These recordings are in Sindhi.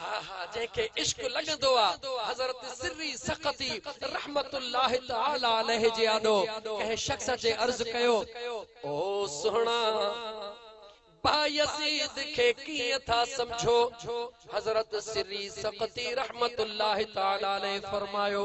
ها ها جنهن کي عشق لڳندو آ حضرت سري سقطي رحمة الله تعالٰي عليه جي آڏو ڪنهن شخص اچي عرض ڪيو او سهڻا بايزيد کي ڪيئن ٿا سمجهو حضرت سري سقطي رحمة الله تعالٰي عليه فرمايو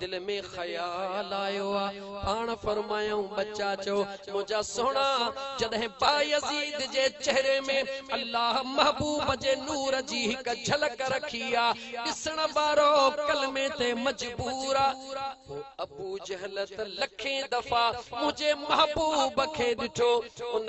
دل ۾ خيال آيو آ، پاڻ فرمايائون ٻچا چئو منهنجا سهڻا، جڏهن بايزيد جي چهري ۾ الله محبوب جي نور جي هڪ جهلڪ رکي آ، ڏسڻ وارو ڪلمي تي مجبور آ، پوء ابوجهل ته لکين دفعا منهنجي محبوب کي ڏٺو، ان.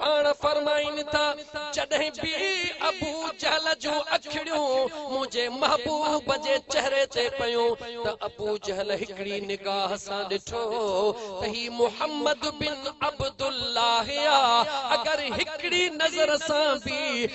پاڻ فرمائين ٿا، جڏهن به ابو جهل جون اکڙيون منهنجي محبوب جي چهري تي پيون ته ابو جهل هڪڙي نگاهه سان ڏٺو ته هي محمد بن عبدالله آ، اگر هڪڙي نظر سان به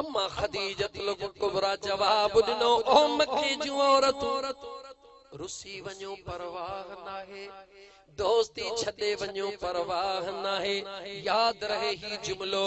اما خديجة الڪبريٰ جواب ڏنو، او مڪي جون عورتون! رسي وڃو پرواهه ناهي، دوستي ڇڏي وڃو پرواهه ناهي، ياد رهي هي جملو.